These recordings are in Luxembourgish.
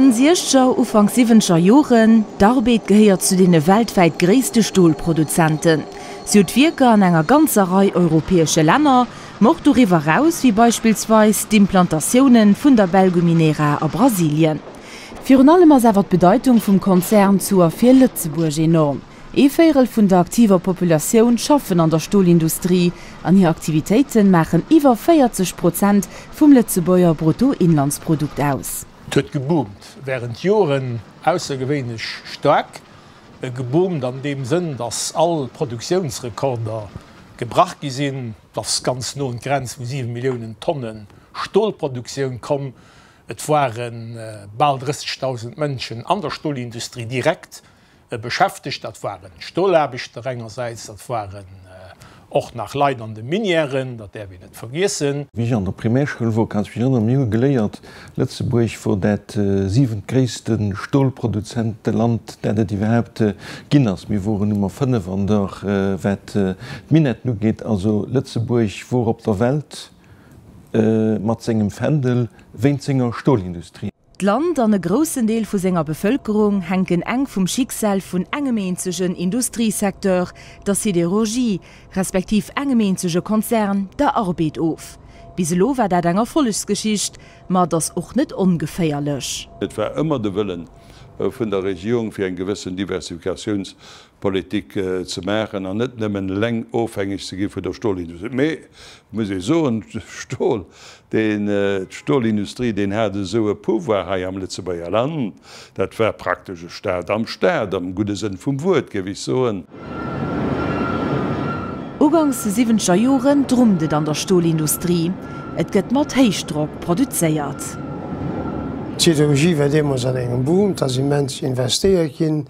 Enn siechzeger, ufank siwwenzeger Joren, D'Arbed gehéiert zu deene weltwäit gréisste Stolproduzenten. Si huet Wierker an enger ganzer Rei europäesche Länner, ma och doriwwer eraus, wéi beispillsweis d'Implantatiounen vun der Belgu Minera a Brasilien. Virun allem ass awer d'Bedeitung vum Konzern zu a fir Lëtzebuerg enorm. Ee Véirel vun der aktiver Populatioun schaffen an der Stolindustrie an hir Aktivitéite maachen iwwer 40 Prozent vum Lëtzebuerger Bruttoinlandsprodukt aus. Et huet geboomt, wärend Joren aussergewéinlech staark geboomt an deem Sënn, datt all Produktiounsrekorder gebrach gi sinn. Et ass ganz no un d'Grenz vu 7 Milliounen Tonne Stolproduktioun komm. Et ware bal 30.000 Mënschen an der Stolindustrie direkt beschäftegt. Dat ware Stolaarbechter engersäits, dat waren och nach Leit an de Minièren, dat däerf een net vergiessen. Wéi ech an der Primärschoul wor, kann ech mech erënneren, mir hu geléiert, Lëtzebuerg wor dat siwent gréisste Stolproduzenteland, dat et iwwerhaupt ginn ass. Mir woren Nummer 5 an der, wat d'Minetten ugeet. Also Lëtzebuerg wor op der Welt mat sengem Fändel wéint senger Stolindustrie. D'Land an e groussen Deel vu senger Bevëlkerung hänken enk vum Schicksal vun engem eenzegen Industriesecteur, der Sidérurgie, respektiv engem eenzege Konzern, der Arbed, of. Bis elo war dat eng Erfollegsgeschicht, ma et ass och net ongeféierlech. Et war ëmmer de Wëllen vun der Regierung, fir eng gewëssen Diversifikatiouns Politik ze maachen an net nëmmen eleng ofhängeg ze gi vun der Stolindustrie. Mee et muss ee soen, Stol, deen, d'Stolindustrie, deen hat esou e Pouvoir hei am Lëtzebuerger Land, dat war praktesch e Staat am Staat, am gudde Sënn vum Wuert, géif ech soen. Ugangs siwwenzeger Joren drummt et an der Stolindustrie, et gëtt mat Héichdrock produzéiert. D'Siderurgie war deemools an engem Boom, et ass immens investéiert ginn,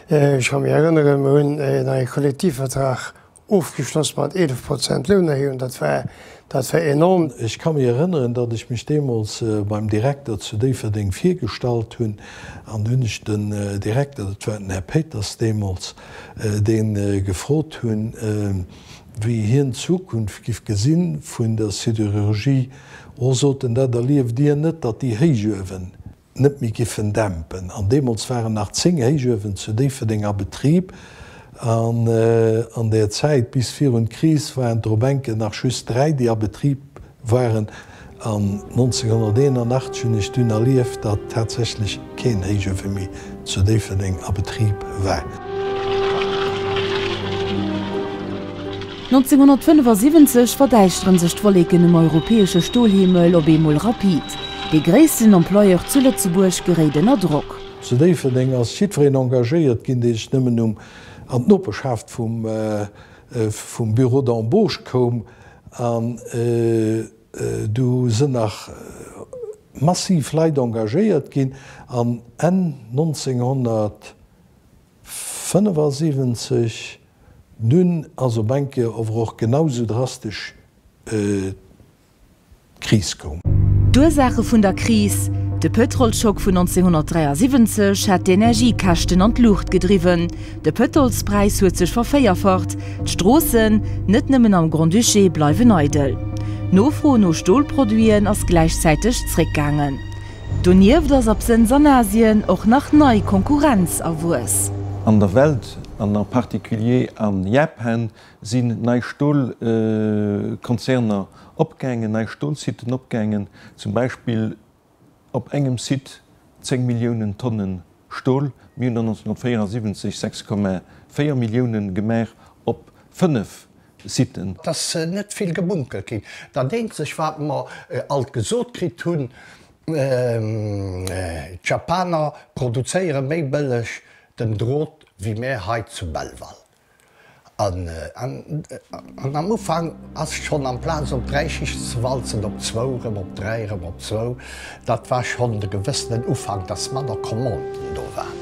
Ech ka mir erënneren, mir hunn e neie Kollektivvertrag ofgeschloss mat 11 Prozent Lounerhéijung, dat war, dat war enorm. Ech ka mir erënneren, datt ech mech deemools beim Direkter zu Déifferdeng virgestallt hunn an hunn ech den Direkter, dat war den Här Péiters deemools, dee gefrot hunn, wéi hien d'Zukunft giff gesi vun der Sidérurgie. O, sot en, dat erlieft Dir net, datt déi héich uewen net méi giffen dämpen. An deemools waren nach 10 Héichuewen zu Déifferdeng a Betrib. An an der Zäit bis virun d'Kris waren et dorop enke nach just 3, déi a Betrib waren. An 1981 hunn ech dunn erlieft, datt tatsächlech keen Héichuewe méi zu Déifferdeng a Betrib war. 1975 verdäischtere sech d'Wolleken um europäesche Stolhimmel op eemol rapid. Dee gréissten Employeur zu Lëtzebuerg geréit ënner Drock. Zu Déifferdeng ass jiddwereen engagéiert ginn, dee sech nëmmen um an d'Noperschaft vum Bureau d'Embauche koum. An do sinn nach massiv Leit engagéiert ginn an Enn 1900, 75, Dunn ass op eng Kéier ower och genau sou drastesch d'Kris koum. D'Ursaache vun der Kris, De Pëtrolschock vun 1973 hat d'Energiekäschten an d'Luucht gedriwwen. De Pëtolspräis huet sech vervéierfacht. D'Stroossen, net nëmmen am Grand-Duché, bleiwen eidel. D'Nofro no Stolproduiten ass gläichzäiteg zréckgaangen. Donieft ass absënns an Asien och nach nei Konkurrenz erwuess. An der Welt, an en particulier a Japan, sinn nei Stolkonzerner opgaangen, nei Stolsiten opgaangen, zum Beispill op engem Site 10 Milliounen Tonne Stol. Mir hunn der 1974 6,4 Milliounen gemaach op 5 Sitten. Et ass net vill gemunkelt ginn. Dat eenzeg, wat mer alt gesot kritt hunn, d'Japaner produzéiere méi bëlleg den Drot wéi mär hei zu Belval. An am Ufank ass et schonn, amplaz op dräi Schichten ze walzen, op zwou, erëm op dräi, erëm op zwou, dat war schonn e gewëssenen Ufank, dass manner Commanden do waren.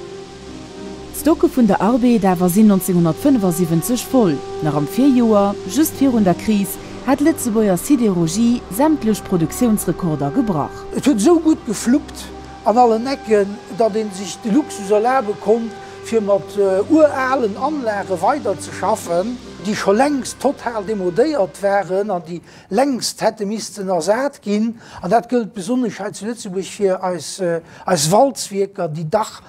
D'Stocke vun der Arbed awer sinn 1975 voll. Nach am Virjoer, just virun der Kris, hat d'Lëtzebuerger Sidérurgie sämtlech Produktiounsrekorder gebrach. Et huet esou gutt gefluppt an allen Ecken, datt ee sech de Luxus erlabe konnt, fir mat uralen Anlage weiderzeschaffen, déi scho längst total demodéiert waren an déi längst hätte missten ersat ginn, an dat gëllt besonnesch hei zu Lëtzebuerg fir eis Walzwierker, déi dach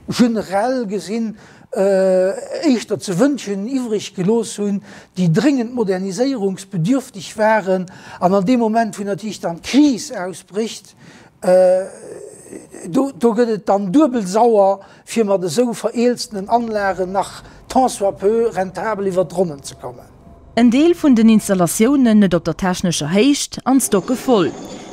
generell gesinn éischter ze wënschen iwwreg gelooss hunn, déi dréngend moderniséierungsbedürftig waren. An an deem Moment, wou natierlech dann d'Kris ausbrécht, do gëtt et dann duebel sauer, fir mat esou vereelztenen Anlagen nach tant soit peu rentabel iwwert d'Ronnen ze kommen. En Deel vun den Installatiounen net op der technescher Héicht an d'Stocke voll.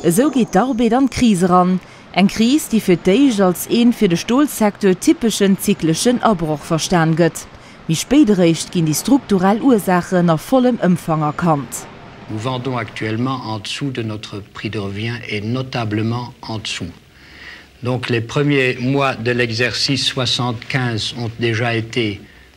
Esou geet d'Arbeet an d'Kris eran. Eng Kris, déi fir d'éischt als een fir de Stolsecteur typeschen zykleschen Abroch verstan gëtt. Méi spéit eréischt ginn déi strukturell Ursaachen a vollem Ëmfang erkannt. Nous vendons actuellement en dessous de notre prix de revient et notablement en dessous. Donc les premiers mois de l'exercice 75 ont déjà été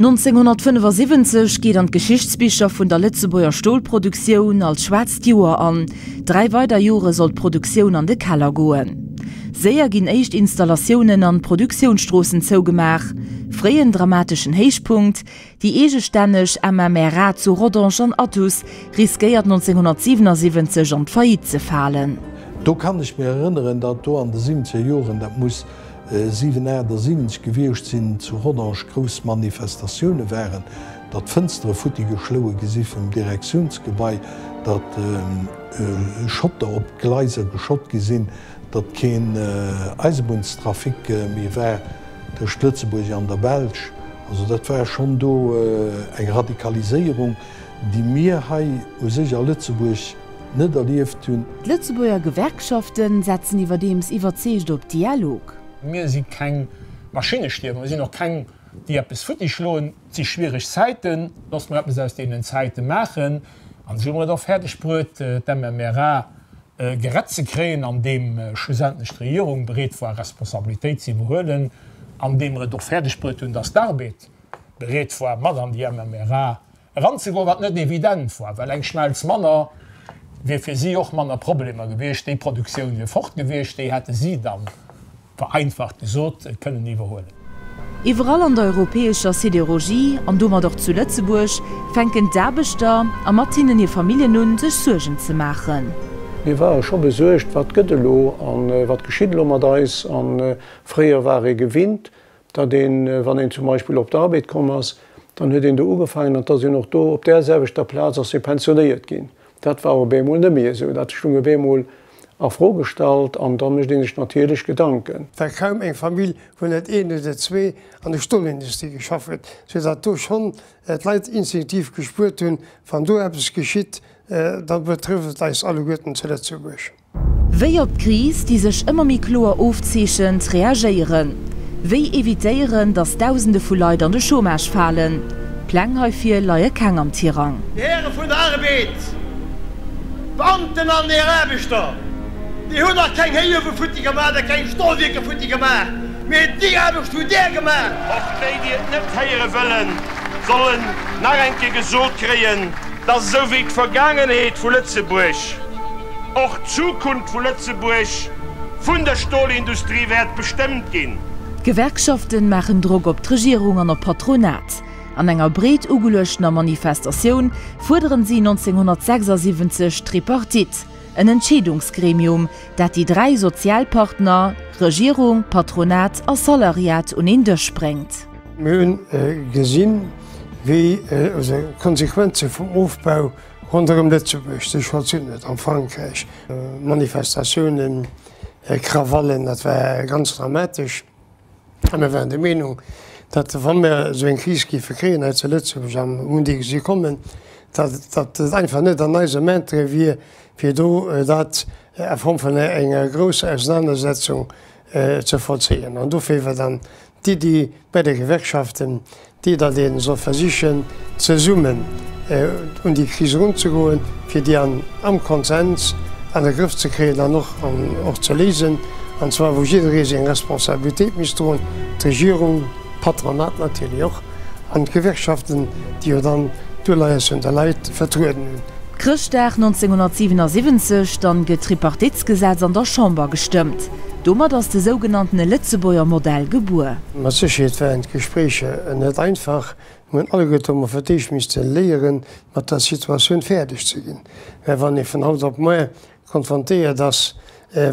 1975 geet an d'Geschichtsbicher vun der Lëtzebuerger Stolproduktioun als schwaarzt Joer an. Dräi weider Jore soll d'Produktioun an de Keller goen. Séier ginn éischt Installatiounen an Produktiounsstroossen zougemaach. Fréien dramateschen Héichpunkt, déi eegestänneg MMRA zu Rodange an Athus, riskéiert 1977 an d'Faillite ze falen. Do kann ech mir erënneren, datt do an de siwwenzeger Joren, dat muss. 778 gewiescht sinn, zu Rodange grouss Manifestatioune waren, datt Fënstere futti geschloue gi si vum Direktiounsgebai, datt Schotter op d'Gleiser geschott gi sinn, datt keen Eisebunnstrafic méi war tëscht Lëtzebuerg an der Belsch. Also dat war schonn do eng Radikaliséierung, déi mir hei u sech a Lëtzebuerg, net erlieft hunn. D'Lëtzebuerger Gewerkschafte setzen iwwerdeems iwwerzeegt op Dialog. Mir si keng Maschinnestierwer, mir sinn och keng, déi eppes futtischloen. Et si schwiereg Zäiten, looss mer eppes aus deenen Zäite maachen. An esou hu mer et och fäerdeg bruet, d'MMRA gerett ze kréien, andeem schlussendlech d'Regierung bereet war, Responsabilitéit ze iwwerhuelen, andeem mer et och fäerdeg bruet hunn, datt d'Arbed bereet war, mat an déi MMRA Eranzegoen, wat net evident war, well eng Schmelz manner wier fir si och manner Problemer gewiescht. Déi Produktioun wier fort gewiescht, déi hätte si dann, vereinfacht gesot, kënnen iwwerhuelen. Iwwerall an der europäescher Sidérurgie, an domat och zu Lëtzebuerg, fänken d'Aarbechter, a mat hinnen hir Familljen un, sech Suergen ze maachen. Mir ware scho besuergt, wat gëtt elo a wat geschitt elo mat eis? A fréier war ee gewinnt, datt een, wann een zum Beispill op d'Arbeet komm ass, dann huet een do ugefaangen an datt een och do op där selwechter Plaz ass ee pensionéiert ginn. Dat war op eemol net méi esou, dat stung op eemol a Fro gestallt an da mécht ee sech natierlech Gedanken. War kaum eng Famill, wou net een oder zwee an der Stolindustrie geschafft huet, sou datt do schonn d'Leit instinktiv gespuert hunn, wann do eppes geschitt, da betrëfft et eis alleguerten zu Lëtzebuerg. Wéi op d'Kris, déi sech ëmmer méi kloer ofzeechent, reagéieren? Wéi evitéieren, datt Dausende vu Leit an de Chômage falen? Pläng heifir leie keng am Tirang. Dir Häre vun der Arbed, Beamten an Dir Aarbechter, mir hunn nach keng Héichuewe futti gemaach a keng Stolwierker futti gemaach, mee déi Aarbecht hutt Dir gemaach. Och déi, déi et net héiere wëllen, sollen nach eng Kéier gesot kréien, Dass esou wéi d'Vergaangenheet vu Lëtzebuerg och d'Zukunft vu Lëtzebuerg vun der Stolindustrie wäert bestëmmt ginn. D'Gewerkschaften maachen Drock op d'Regierung an op d'Patronat. An enger breet ugeluechter Manifestatioun fuerderen si 1976 d'Tripartite, en Entscheedungsgremium, dat déi dräi Sozialpartner, Regierung, Patronat a Salariat, un een Dësch bréngt. Mir hunn gesinn, Wéi esou d'Konsequenze vum Ofbau ronderëm Lëtzebuerg sech vollzunn huet a Frankräich, Manifestatiounen, Krawallen, dat war ganz dramatesch. A mir waren der Meenung, datt wa mir esou eng Kris géife kréien hei zu Lëtzebuerg an um Mondi gesi kommen, datt et einfach net an eisem Interêt wier, fir do dat a Form vun enger grousser Ausenanersetzung ze vollzéien. An dofir war dann d'Iddi bei de Gewerkschaften déi, datt ee soll versichen zesummen un déi Kris erunzegoen, fir déi an am Konsens an de Grëff ze kréien an och an och ze léisen, an zwar wou jidderee seng Responsabilitéit misst droen, d'Regierung, d'Patronat natierlech och. an d'Gewerkschaften, déi jo dann d'Uleies vun de Leit vertrueden hunn. Chrëschtdag 1977 dann gëtt d'Tripartitsgesetz an der Chamber gestëmmt. Domat ass de sougenanntene Lëtzebuerger Modell gebuer. Mat Sécherheet waren d'Gespréicher net einfach. Mir hunn alleguerte domat fir d'éischt misste léieren, mat der Situatioun fäerdeg ze ginn. Well wann ee vun haut op moar konfrontéiert ass,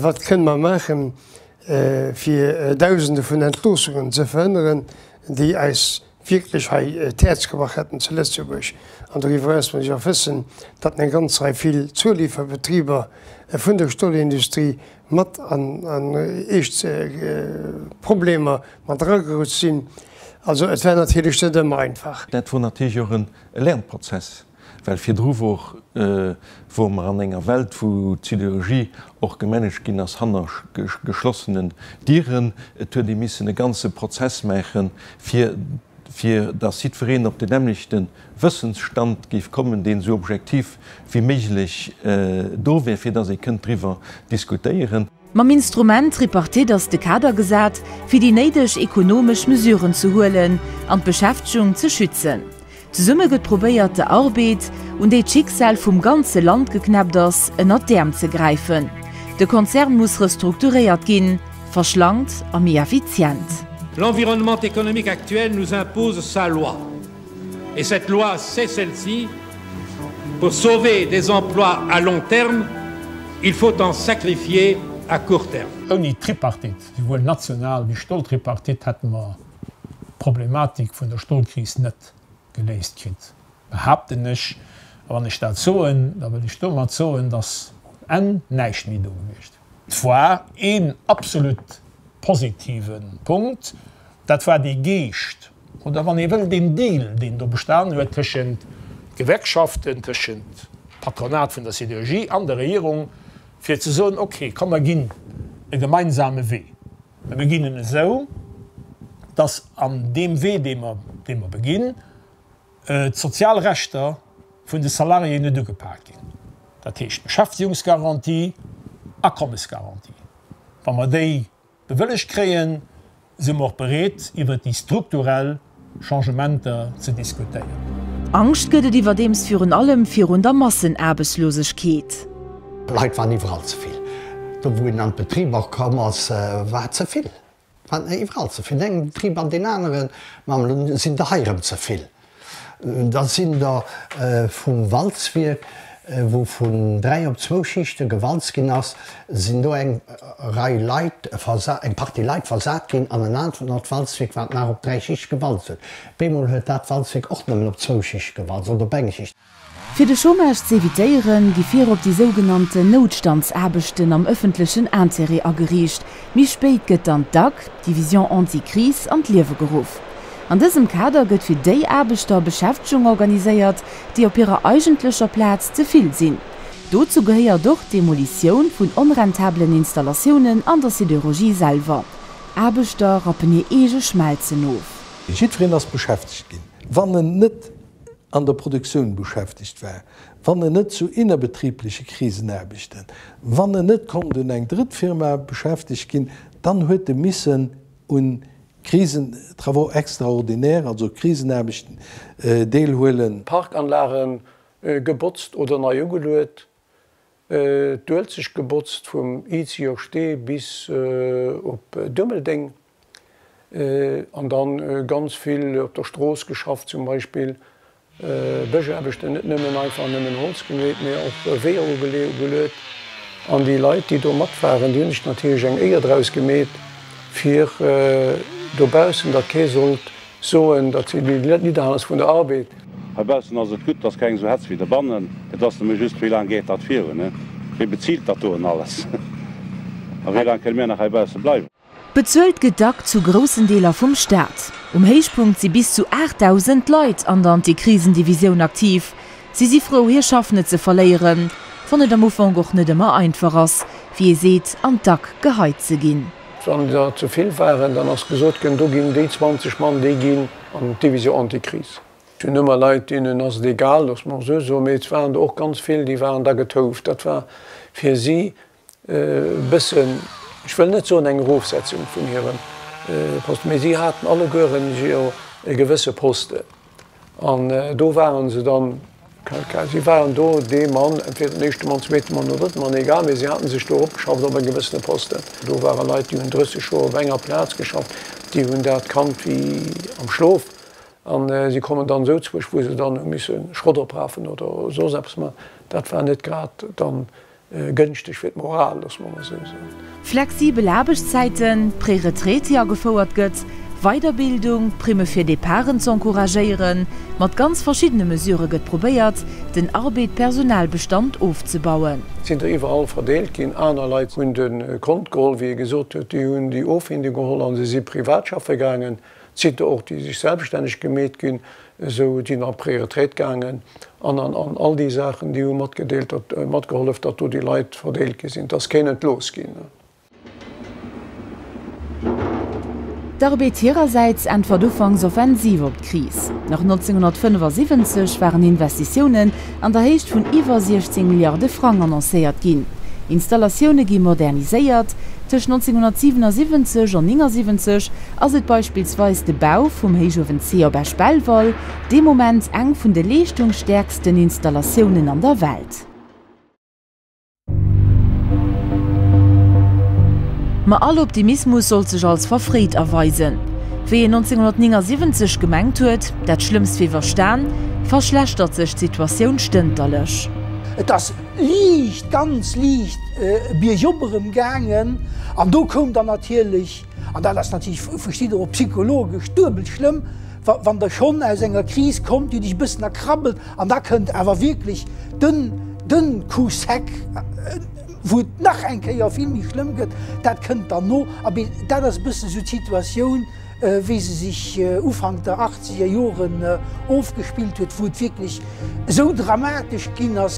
wat kënne mer maachen, fir Dausende vun Entloossungen ze verhënneren, déi eis wierklech hei d'Häerz gebrach hätten zu Lëtzebuerg. An doriwwer eraus muss ech och wëssen, datt eng ganz Rei vill Zulieferbetriber vun der Stolindustrie mat an eescht Problemer mat eragerutscht sinn. Also et war natierlech net ëmmer einfach. Dat wor natierlech och e Lernprozess. Well virdru wor wore mer an enger Welt, wou d'Siderurgie och gemanagt ginn ass hanner geschlossenen Dieren. Et huet ee missen e ganze Prozess maachen, fir fir dass jiddwereen op den nämmlechte Wëssensstand géif kommen, deen esou objektiv wéi méiglech do wär, fir dass ee kënnt driwwer diskutéieren. Mam Instrument Tripartite ass de Kader gesat, fir déi néideg ekonomesch Mesuren ze huelen an d'Beschäftegung ze schützen. Zesumme gëtt probéiert, der Arbeed, un déi d'Schicksal vum ganze Land geknäppt ass, ënnert d'Äerm ze gräifen. De Konzern muss restrukturéiert ginn, verschlankt a méi effizient. L'environnement économique actuel nous impose sa loi. Et cette loi, c'est celle-ci, Pour sauver des emplois à long terme, il faut en sacrifier à court terme. Ouni d'Tripartite, souwuel national wéi Stoltripartite, hätte mer d'Problematik vun der Stolkris net geléist kritt, behaapten ech. A wann ech dat soen, da wëll ech domat soen, dass um Enn näischt méi do gewiescht. D'Foire, een absolut positive Punkt, dat war dee Geescht oder wann ee wëll deen Deal, deen do bestanen huet tëschent Gewerkschaften, tëschent Patronat vun der Sidérurgie an der Regierung, fir ze soen, okay, komm mer ginn e gemeinsame Wee. Mer beginn en esou, dass an deem Wee, dee mer beginn, D'sozial Rechter vun de Salariéen net ugepaakt ginn, dat heescht Beschäftigungsgarantie, Akommesgarantie. Wa mer déi bewëllegt kréien, si mer och bereet iwwert déi strukturell Changementer ze diskutéieren. Angscht gëtt et iwwerdeems virun allem virun der Massenaarbechtslosegkeet. Leit waren iwwerall ze vill. Do wou een an d'Betriber komm ass, war ze vill. Wat mir iwwerall ze vill, dengem Betrib an deen aneren, mam Lo sinn der hei rëm ze vill, da sinn der vum Walzwierk, wou vun dräi op zwou Schichte gewalzt ginn ass, sinn do eng Rei Leit, eng Partie Leit versat ginn an en anert Walzwierk, wat nach op dräi Schichte gewalzt huet. Bemol huet dat Walzwierk och nëmmen op zwou Schichte gewalzt oder op eng Schicht. Fir de Chômage z'evitéieren, gi virop déi sougenannten Noutstandsaarbechten am ëffentlechen Intérêt ageriicht. Méi spéit gëtt dann d'DAC, Division Anti-Crise, an d'Liewe geruff. An dësem Kader gëtt fir déi Aarbechter Beschäftegung organiséiert, déi op hirer eigentlecher Plaz ze vill sinn. Dozou gehéiert och d'Demolitioun vun onrentabelen Installatiounen an der Sidérurgie selwer. Aarbechter rappen hir eege Schmelzen of. Jiddwereen ass beschäftegt ginn, wann en net an der Produktioun beschäftegt war, wann en net zu innerbetriibleche Krisen Aarbechten, wann en net konnt un eng Drëttfirma beschäftegt ginn, dann huet e missen un Krisen, travaux extraordinaires, also Krisenaarbechten deelhuelen. Parkanlage gebotzt oder nei ugeluet, d'Uelzecht gebotzt vum Izio Stee bis op Dummeldeng. An dann ganz vill op der Strooss geschafft, zum Beispill Bëschaarbechten, net nëmmen einfach nëmmen Holz gemeet, mee och Weeër ugeluet. An déi Leit, déi do mat waren, déi hunn sech natierlech eng Éier draus gemeet, fir dobaussen, datt kee sollt soen, datt si nidderhalen ass vun der Arbeed. Heibaussen ass et gutt, et ass keng esou Hetz wéi dobannen. Et ass nëmme just, Wéi laang geet dat virun? Wie bezilt dat do en alles? A wéi laang kënne mir nach heibausse bleiwen? Bezuelt gëtt d'ACT zu groussen Deeler vum Staat. Um Héichpunkt si bis zu 8.000 Leit an der Antikrisendivisioun aktiv. Si si frou, hir Schaff net ze verléieren, wann et am Ufank och net ëmmer einfach ass, wéi ee seet, an d'Ack geheit ze ginn. Wann der ze vill waren, dann ass gesot gënn, do ginn déi 20 Mann, déi ginn an d'Division Antikris. Et hunn ëmmer Leit, deenen ass et egal, loosse mer esou soen, mee et waren der och ganz vill, déi waren da getouft. Dat war fir si bëssen, ech wëll net soen eng Erofsetzung vun hirem Poste, mee si haten allegueren jo e gewësse Poste an do ware se dann, si waren do dee Mann, entweder den éischte Mann, zweete Mann oder drëtte Mann, egal, mee si hate sech do eropgeschafft op e gewëssene Posten. Do ware Leit, déi hunn 30 Joer op enger Plaz geschafft, déi hunn dat kannt wéi am Schlof a si kommen dann esou zeréck, wou se dann hu misse Schrott oprafen oder soss eppes man. Dat war net grad dann. Gënschteg fir d'Moral, loosse mer emol esou soen. Flexibel Aarbechtszäiten, d'Préretraite, déi agefouert gëtt, Weiderbildung, Primme fir Departen ze encouragéieren, mat ganz verschiddene Mesurë gëtt probéiert, den Arbeed-Personalbestand ofzebauen. Sinn der iwwerall verdeelt ginn. Aner Leit hunn de Kont geholl, wéi ee gesot huet, déi hunn déi Offinden geholl a se si privat schaffe gaangen. D'Site och déi sech selbstänneg gemeet ginn, esou déi nach an d'Prioritéit gaangen an an all déi Saachen déi hu matgedeelt datt matgehollef datt do déi Leit verdeelt gi sinn, datt kéint entlooss ginn. D'Arbed hirersäits äntwert ufanks offensiv op d'Kris. Nach 1975 waren Investitiounen an der Héicht vun iwwer 16 Milliarde Frang annoncéiert ginn. Installatioune gi moderniséiert. Tëscht 1977 an 79 ass et beispillsweis de Bau vum Héichuewen C op Esch-Belval, dee Moment eng vun de leeschtungsstäerksten Installatiounen an der Welt. Ma all Optimismus sollt sech als verfréit erweisen. Wéi een 1979 gemengt huet, dat Schlëmmst wier iwwerstan, verschlechtert sech d'Situatioun stënterlech. Et ass liicht, ganz liicht biergop erëm gaangen, an do koum dann natierlech An dat ass natierlech, verstitt Der och, psychologesch duebel schlëmm, wann Der schonn aus enger Kris kommt, Dir Iech e bëssen erkrabbelt an da kënnt awer wierklech den Coup sec, wou et nach eng Kéier vill méi schlëmm gëtt. Dat kënnt dann no. Abee, dat ass e bëssen esou d'Situatioun, wéi se sech Ufank der achtzeger Joren ofgespillt huet, wou et wierklech esou dramatesch ginn ass,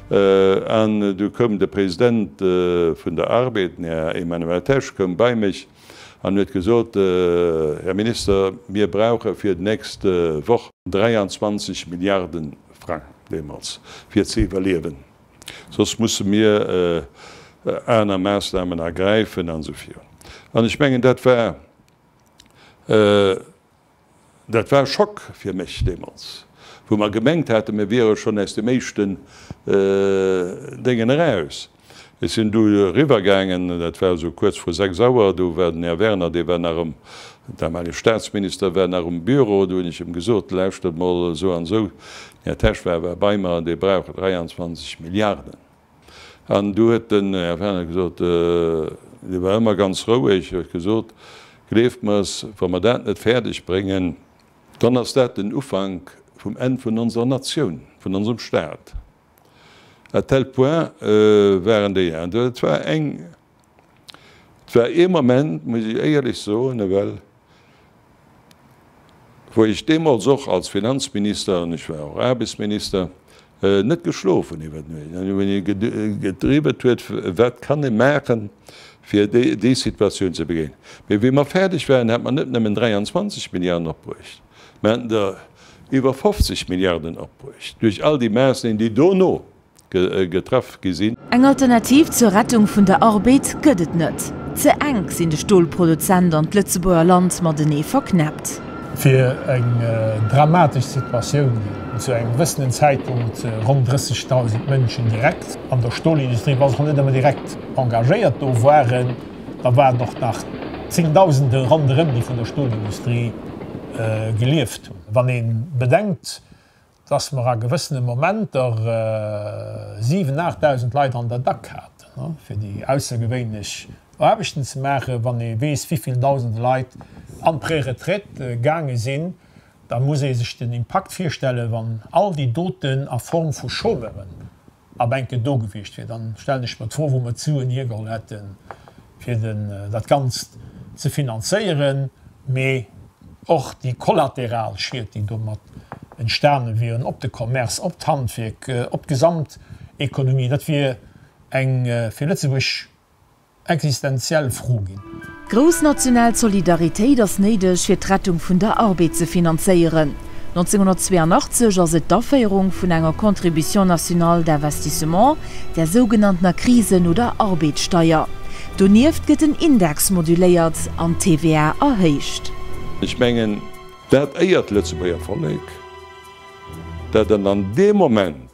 An du koum de President vun der ARBED, den Här Emmanuel Tesch, koum bei mech an huet gesot, Här Minister, mir brauche fir d'nächst Woch 23 Milliarde Frang deemools, fir ze iwwerliewen, soss musse mir aner Maßnahmen ergräifen an esou vir. An ech mengen, dat war Dat war e Schock fir mech deemools, wou mer gemengt haten, mir wiere schonn aus deem éischten Déngen eraus. Ech sinn du eriwwer gaangen, dat war esou kuerz vru sechs Auer, do war den Här Werner, dee war nach ëm, damalige Staatsminister, war nach um Büro, do hunn ech em gesot, lauschtert mol, esou an esou, den Här Tesch war awer bei mer, dee brauch 23 Milliarden. An du huet den Här Fenech gesot, dee war ëmmer ganz roueg, huet gesot, Gleeft mer es, wa mer dat net fäerdeg bréngen, dann ass dat den Ufank vum Enn vun onser Natioun, vun onsem Staat. À tel point waren déi. An et war eng Et war ee Moment, muss ech éierlech soen, ewell, wou ech deemools och als Finanzminister, an ech war och Aarbechtsminister, net geschlof hunn iwwer Nuecht, an wou ee gedriwwelt huet, wat kann ee maachen, fir déi Situatioun ze begéinen. Mee wéi mer fäerdeg waren, hat mer net nëmmen 23 Milliarden opbruecht, mer haten der iwwer 50 Milliarden opbruecht duerch all déi Maatnamen, déi dono getraff gi sinn. Eng Alternativ zur Rettung vun der Arbed gëtt et net. Ze enk sinn de Stolproduzent an d'Lëtzebuerger Land matenee verknäppt. Fir eng dramatesch Situatioun, déi zu engem gewëssenen Zäitpunkt ronn 30.000 Mënschen direkt an der Stolindustrie, wa se och net ëmmer direkt engagéiert do waren, da waren et och nach Zéngdausende ronderëm, déi vun der Stolindustrie gelieft hunn. Wann ee bedenkt, dass mer a gewëssene Momenter 7, 8.000 Leit an der Dack haten, fir déi aussergewéinlech Aarbechten ze maachen. Wann ee weess, wéivill dausende Leit an d'Préretraite gaange sinn, da muss ee sech den Impakt virstellen, wann all déi Doten a Form vu Chômeuren, A Bänke do gewiescht wier, dann stellen ech mer d'Fro, wou mer d'Suen hiergeholl hätten, fir den, dat Ganzt ze finanzéieren, mee och déi kollateral Schied, déi domat entstane wieren, op de Commerce, op d'Handwierk, op d'Gesamteconomie. Dat wier eng, fir Lëtzebuerg existenziell Fro ginn. Grouss national Solidaritéit ass néideg, fir d'Rettung vun der Arbeed ze finanzéieren. 1982 ass et d'Aféierung vun enger Contribution nationale d'investissement, der sougenanntener Krisen oder Arbeedsteier. Donieft gëtt den Index moduléiert an d'TVA erhéicht. Ech mengen, dat éiert d'Lëtzebuerger Vollek, dat an an deem Moment,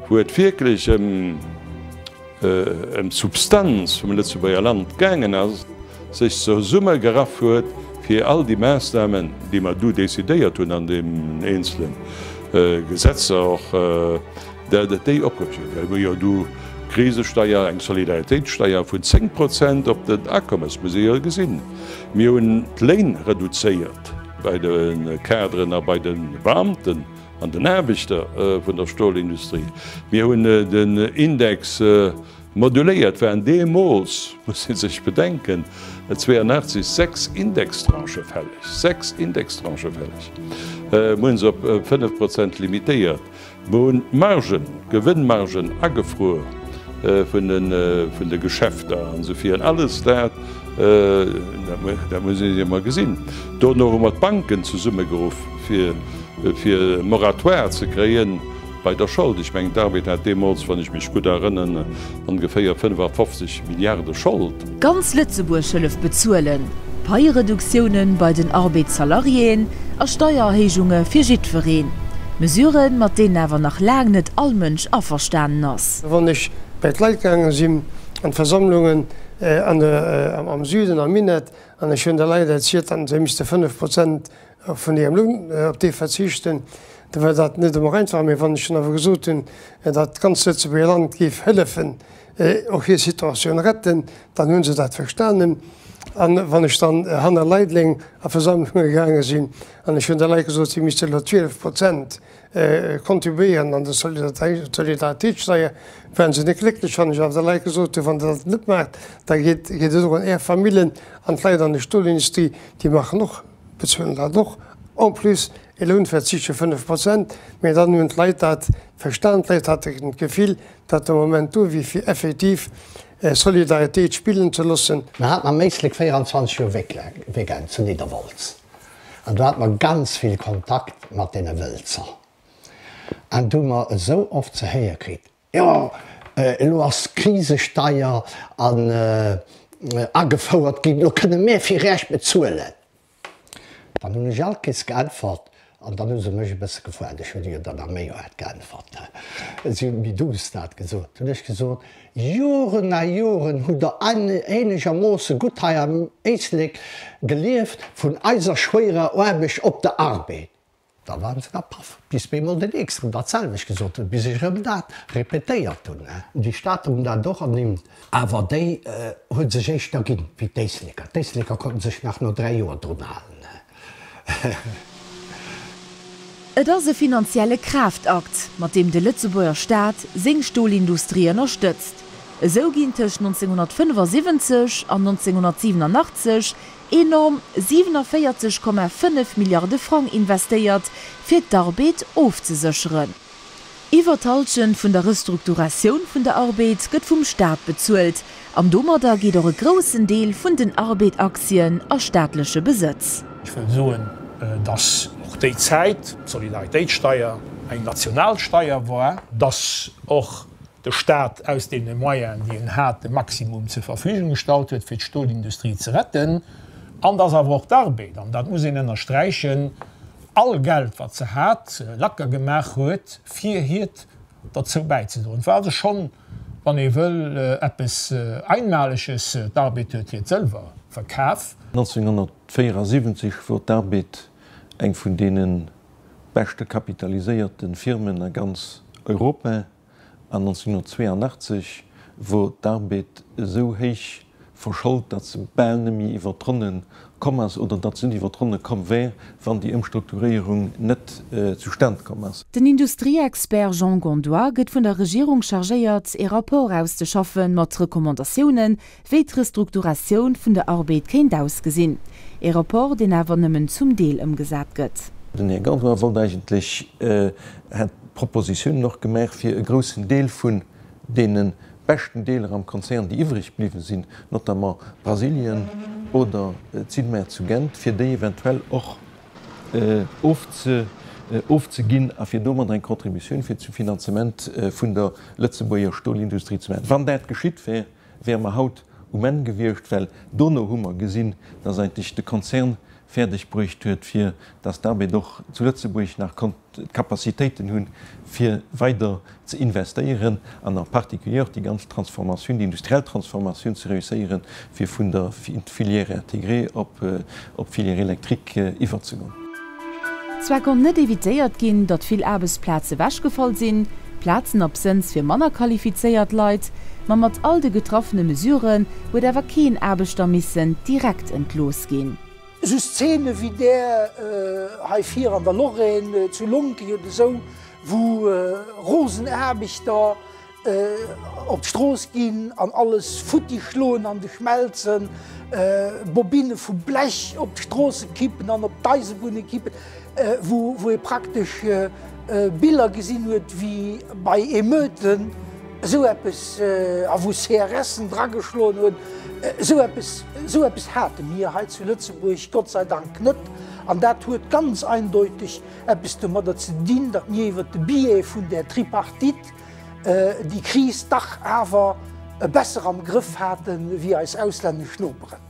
Wou et wierklech ëm d'Substanz vum Lëtzebuerger Land gaangen ass, sech zesumme geraff huet, fir all déi Maßnahmen, déi mer do décidéiert hunn an den eenzele Gesetzer och, dat et déi opgeholl huet, wou jo do d'Krisesteier, eng Solidaritéitssteier vun 10 Prozent op den Akommes, muss ee jo gesinn, mir hunn d'Léin reduzéiert bei de Kaderen a bei de Beamten. An den Aarbechter vun der Stolindustrie. Mir hunn den Index moduléiert, et waren deemools, muss ee sech bedenken, 82, sechs Indextranchë fälleg, sechs Indextranchë fälleg. Mir hunn se op fënnef Prozent limitéiert. Mir hunn d'Margen, d'Gewënnmargen agefruer vun de Geschäfter an esou virun. Alles dat, dat muss ee emol gesinn. Dono hu mer d'Banken zesummegeruff, fir. fir e Moratoire ze kréie bei der Schold. Ech mengen, d'ARBED hat deemools, wann ech mech gutt erënnen, ongeféier 55 Milliarde Schold. Ganz Lëtzebuerg hëlleft bezuelen, Paiereduktioune bei den ARBED-Salariéen a Steiererhéijunge fir jiddwereen, Mesuren, mat deenen awer nach laang net all Mënsch averstanen ass. Wann ech bei d'Leit gaange sinn an d'Versammlungen am Süden, am Minett, an ech hunn de Leit erzielt, datt se misste 5 Prozent A vun Ihrem Louhn op dee verzichten, da wär dat net ëmmer einfach. Mee wann ech dann awer gesot hunn, datt d'ganzt Lëtzebuerger Land géif hëllefen, och hir Situatioun retten, dann hu se dat verstanen. A wann ech dann hanner Leideleng a Versammlunge gaange sinn an ech hunn de Leit gesot, si misste elo 12 Prozent contribuéieren an de Solidaritéitssteier, waren se net glécklech. Wann ech awer de Leit gesot hunn, wann Der dat net maacht, da geet et erun Är Famillen. An d'Leit an der Stolindustrie, déi maachen och. Bezuelen dat och. En plus e Lounverzicht vu 5 Prozent. Mee dann hunn d'Leit dat verstan. D'Leit haten d'Gefill, datt de Moment do wier fir effektiv Solidaritéit spillen ze loossen. Mer haten am Éislek 24 Joer Weekend zu Nidderwolz. An do hate mer ganz vill Kontakt mat deene Wëlzer. An do hu mer esou oft ze héiere kritt, Jo, elo ass d'Krisesteier an agefouert ginn, elo kënne mär fir Iech bezuelen. Dann hunn ech allkéiers geäntwert, an dann hu se mech e bësse gefragt, ech hunn jo dann am Méijoer geäntwert, si hunn méi douce dat gesot, hunn ech gesot, Joren a Joren hutt Der eenegermoosse gutt hei am Éislek gelieft vun eiser schwéierer Aarbecht op der Arbed. Da waren se da paff, bis mir emol den Nächsten dat selwecht gesot hunn, bis ech erëm dat répétéiert hunn. Déi Stater hunn dat och ernimmt. Awer déi hu sech éischter ginn, wéi d'Éisleker. D'Éisleker konnten sech nach no dräi Joer drun halen. Et ass e finanzielle Kraaftakt, mat deem de Lëtzebuerger Staat seng Stolindustrie ënnerstëtzt. Esou ginn tëscht 1975 an 1987 Enorm 47,5 Milliarde Frang investéiert fir d'Arbeed ofzesécheren. Iwwer d'Halschent vun der Restrukturatioun vun der Arbeed gëtt vum Staat bezuelt an domadder geet och e groussen Deel vun den Arbeed-Aktien a staatleche Besëtz. Ech wëll soen, dass och déi Zäit d'Solidaritéitssteier eng national Steier war, dass och de Staat aus deene Moyenen, déi en hat, de Maximum zur Verfügung gestallt huet, fir d'Stolindustrie ze retten, an dass awer och d'Arbeed, an dat muss een ënnersträichen, all Geld, wat se hat, lacker gemaach huet, fir hiert derzou bäizedroen. Et war also schonn, wann ee wëll, eppes Einmaleges. D'Arbeed huet hiert sëlwer verkaf. 1974 wor d'Arbeed eng vun deene beschte kapitaliséierte Firmen a ganz Europa. an 1982 wor d'Arbed esou héich verschollt, datt se bal nemmi iwwer d'Ronne komm ass, oder datt se net iwwer d'Ronne komm wär, wann déi Ëmstrukturéierung net zustand komm ass. Den Industrieexpert Jean Gondois gëtt vun der Regierung chargéiert, ee Rapport auszeschaffen, mat Recommandatiounen, wéi d'Restrukturatioun vun der Arbed kéint ausgesinn. Ee Rapport, deen awer nëmmen zum Deel ëmgesat gëtt. Den Här Gondois wollt eigentlech, hat. Propositionen och gemaach, fir e groussen Deel vun deene beschten Deeler am Konzern, déi iwwreg bliwwen sinn, notamment Brasilien oder d'Sidmer zu Gent, fir déi eventuell och ofzeginn a fir domadder eng Contribution fir zum Finanzement vun der Lëtzebuerger Stolindustrie ze maachen. Wann dat geschitt wär, wäre mer haut um Enn gewiescht, well dono hu mer gesinn, dass eigentlech de Konzern fäerdeg bruecht huet, fir dass d'Arbed och zu Lëtzebuerg nach konnt d'Capacitéiten hunn, fir weider ze investéieren an en particulier och déi ganz Transformatioun, déi industriell Transformatioun ze réusséieren, fir vun der Filière intégrée op d'Filière électrique iwwerzegoen. Zwar konnt net evitéiert ginn, datt vill Aarbechtsplaze ewechgefall sinn, Plazen absënns fir manner qualifizéiert Leit, ma mat all de getraffene Mesuren huet awer keen Aarbechter missen direkt entloossen. ëmgesat ginn. Esou Szene wéi där hei vir an der Lorraine, zu Lonki oder esou, wou rosen Aarbechter op d'Strooss ginn an alles futti schloen an de Schmelzen, Bobinne vu Blech op d'Stroosse kippen an op d'Eisebunne kippen, wou ee praktesch Biller gesinn huet wéi bei Emeuten. Esou eppes, a wou CRS'en drageschloen hunn, esou eppes, esou eppes hate mir hei zu Lëtzebuerg Gott sei Dank net. An dat huet ganz eindeuteg eppes domadder ze dinn, datt mir iwwert de Biais vun där Tripartite déi Kris dach awer besser am Grëff hate wéi eis auslännesch Noperen.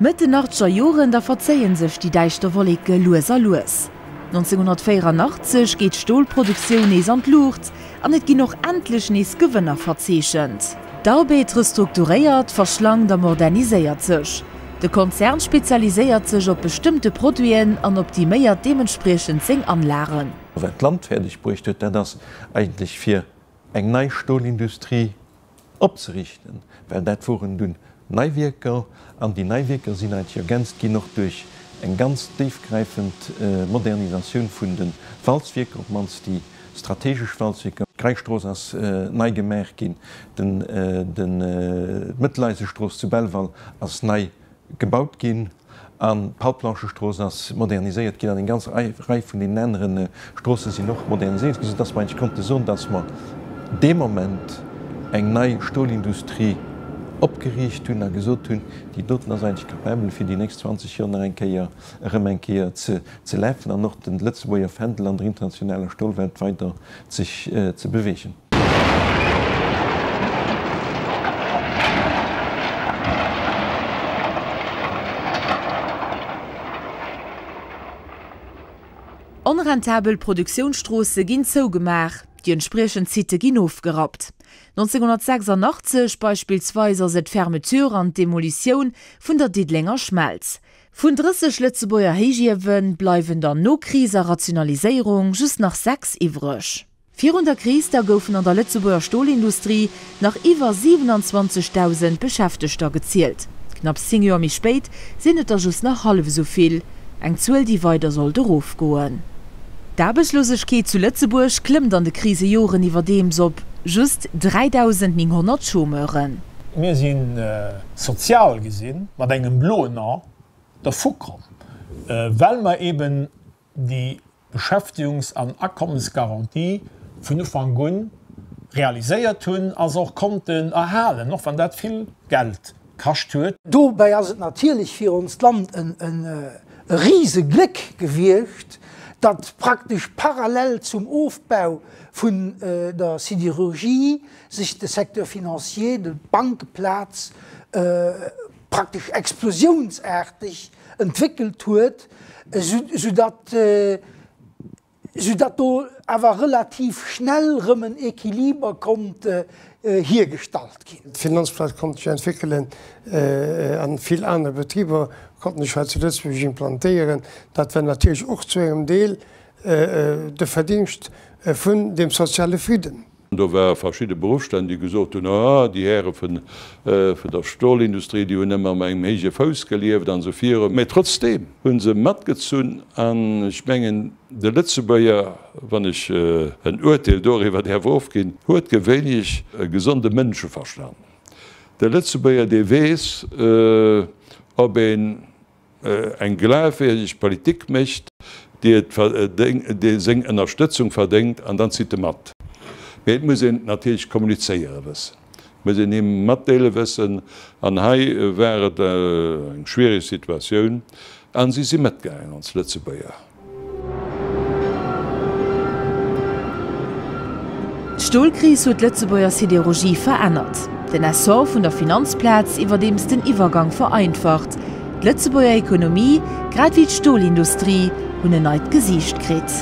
Mëtt den achtzeger Joren da verzéie sech déi däischter Wolleke lues a lues. 1984 geet d'Stolproduktioun nees an d'Luucht an et ginn och endlech nees Gewënner verzeechent. D'Arbed restrukturéiert, verschlankt a moderniséiert sech. De Konzern spezialiséiert sech op bestëmmte Produiten an optiméiert deementspriechend seng Anlagen. Wat d'Land fäerdeg bruecht huet, dat ass eigentlech fir eng nei Stolindustrie. opzerichten, well dat woren dunn nei Wierker, an déi nei Wierker sinn eidg ergänzt ginn och duerch eng ganz déifgräifend Modernisatioun vun de Walzwierker, op mannst déi strategesch Walzwierker. D'Greischstrooss ass nei gemaach ginn, d'Mëtteleisestroos zu Belval ass nei gebaut ginn an d'Hauptblanchestrooss ass moderniséiert ginn an eng ganz Rei vun deenen anere Stroosse sinn och moderniséiert ginn, soudass mer eigentlech konnte soen, dass mer dee Moment eng nei Stolindustrie opgeriicht hunn a gesot hunn, déi doten ass eigentlech capabel, fir déi nächst 20 Joer nach eng Kéier erëm eng Kéier ze lafen an och de Lëtzebuerger Fändel an der internationaler Stolwelt weider sech ze beweegen. Onrentabel Produktiounstroosse ginn zougemaach, déi entspriechend Sitë ginn ofgerappt. 1986 beispillsweis ass et d'Fermeture an d'Demolitioun vun der Diddelenger Schmelz. Vun 30 Lëtzebuerger Héichiewe bleiwen dann no Kris a Rationaliséierung just nach sechs iwwreg. Virun der Kris da goufen an der Lëtzebuerger Stolindustrie nach iwwer 27.000 Beschäftegter gezielt. Knapps zéng Joer méi spéit sinn et der just nach hallef esou vill, eng Zuel, déi weider sollt erofgoen. D'Aarbechtslosegkeet zu Lëtzebuerg klëmmt an de Krisejoren iwwerdeems op just 3.900 Chômeuren. Mir sinn sozial gesinn, mat engem bloen A dervukomm, well mer eeben déi Beschäftigungs an Akommesgarantie vun Ufank un realiséiert hunn a se och konnten erhalen, och wann dat vill Geld kascht huet. Dobäi ass et natierlech fir onst Land e Risegléck gewiescht, datt praktesch parallel zum Ofbau vun der Siderurgie sech de Secteur financier, de Bankeplaz, praktesch explosiounsaarteg entwéckelt huet, soudatt soudatt do awer relativ schnell erëm en Equiliber konnt hiergestallt ginn. D'Finanzplaz konnt sech entwéckelen a vill aner Betriber konnten sech hei zu Lëtzebuerg implantéieren. Dat war natierlech och zu engem Deel de Verdingscht vun dem soziale Fridden. Do ware verschidde Beruffstänn, déi gesot hunn, Ah, déi Häre vun der Stolindustrie, déi hunn ëmmer op engem héije Fouss gelieft an esou virun. Mä trotzdeem hu se matgezunn. An ech mengen, de Lëtzebuerger, wann ech en Uerteel doriwwer däerf ofginn, huet gewéinlech e gesonde Mënscheverstand. De Lëtzebuerger, dee weess, ob een eng glafwierdeg Politik mécht, déi et verdéng, déi seng Ënnerstëtzung verdéngt, an dann zitt e mat. Mee et muss een et natierlech kommunizéiere wëssen, et muss een him matdeele wëssen. An hei war et eng schwiereg Situatioun, a si si matgaangen, ons Lëtzebuerger. D'Stolkris huet d'Lëtzebuerger Siderurgie verännert. Den Essor vun der Finanzplaz iwwerdeems den Iwwergang vereinfacht. D'Lëtzebuerger Ekonomie, grad wéi d'Stolindustrie, hunn en neit Gesiicht kritt.